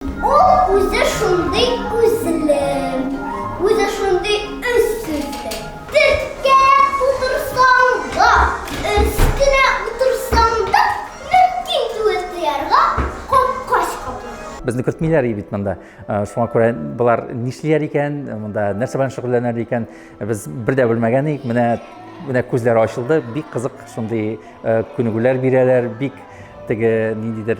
Ул үзе шундый күзле, үзе шундый үз сүзле. Төрткәләп утырсаң да, өстенә утырсаң да, мөмкин түгел тоярга капкач капма. Безне кертмиләр и бит монда. Э, шуңа күрә болар нишлиләр икән, монда нәрсә белән шөгыльләнәр икән, без бер дә белмәгән идек. Менә менә күзләре ачылды, бик кызык шундый э, күнегүләр бирәләр, бик теге ниндидер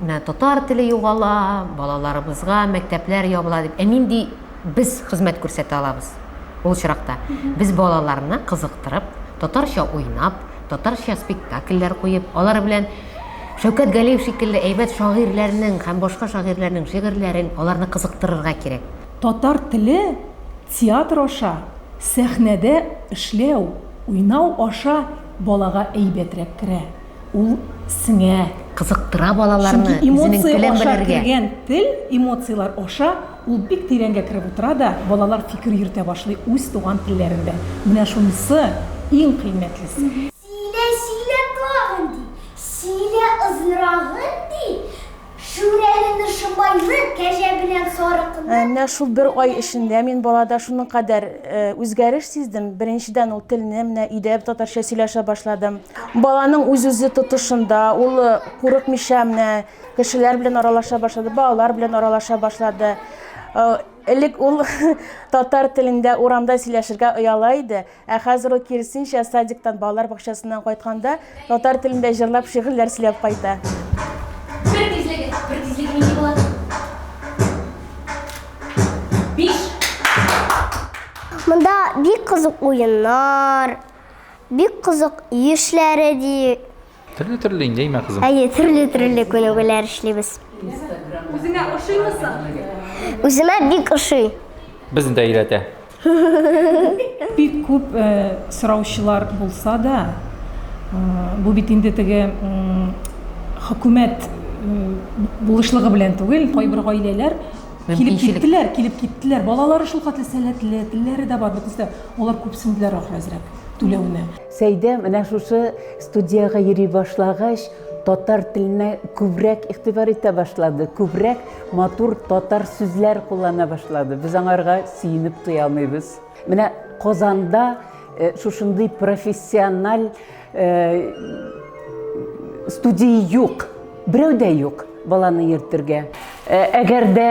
Менә татар теле югала, балаларыбызга мәктәпләр ябыла дип. Ә нинди без хезмәт күрсәтә алабыз ул очракта? Без балаларны кызыктырып, татарча уйнап, татарча спектакльләр куеп, алар белән Шәүкәт Галиев шикелле әйбәт шагыйрьләрнең һәм башка шагыйрьләрнең шигырьләрен, аларны кызыктырырга кирәк. Татар теле театр аша, сәхнәдә эшләү, уйнау аша балага әйбәтрәк керә. Ул сеңә, кызыктыра балаларны, Чөнки үзенең эмоция телен аша белергә. кергән тел, эмоцияләр аша ул бик тирәнгә кереп утыра да, балалар фикер йөртә башлый үз туган телләрендә. Менә шунысы иң кыйммәтлесе. Сөйлә, сөйлә тагын, ди. Сөйлә озынрагын, ди. Шүрәлене шомайлы кәҗә белән сарыкны. Менә шул бер ай эчендә мин балада шуның кадәр үзгәреш сиздем. Беренчедән, ул телне менә өйдә татарча сөйләшә башлады. Баланың үз-үзе тотышында, ул курыкмыйча менә кешеләр белән аралаша башлады, балалар белән аралаша башлады. Элек ул татар телендә урамда сөйләшергә ояла иде. Ә хәзер ул киресенчә, садиктан, балалар бакчасыннан кайтканда, татар телендә җырлап, шигырьләр сөйләп кайта. Бер тизлеге, бер тизлеге нинди була? Биш. Монда бик кызык уеннар, бик кызык ишләре ди. Төрле төрле инде имә кызым. Әйе, төрле төрле күнегүләр эшлибез. Үзеңә ошыймы соң? Үземә бик ошый. Безне дә өйрәтә. Бик күп сораучылар булса да, бу бит инде теге хөкүмәт булышлыгы белән түгел, кайбер гаиләләр килеп киттеләр, килеп киттеләр. Балалары шулкадәр сәләтле, телләре дә бар, бөтенесе дә. Алар күпсенделәр ахры әзрәк түләүне. Сәйдә менә шушы студиягә йөри башлагач, татар теленә күбрәк игътибар итә башлады, күбрәк матур татар сүзләр куллана башлады. Без аңарга сөенеп туя алмыйбыз. Менә Казанда э, шушындый профессиональ э, студия юк, берәү дә юк баланы йөртергә. Э, әгәр дә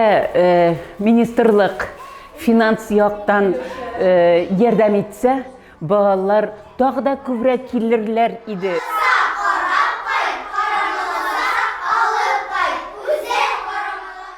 министрлык финанс яктан ярдәм итсә, Балалар тагы да күбрәк килерләр иде. Кызга карап кайт, карамаларак алып кайт, үзе карамаларак.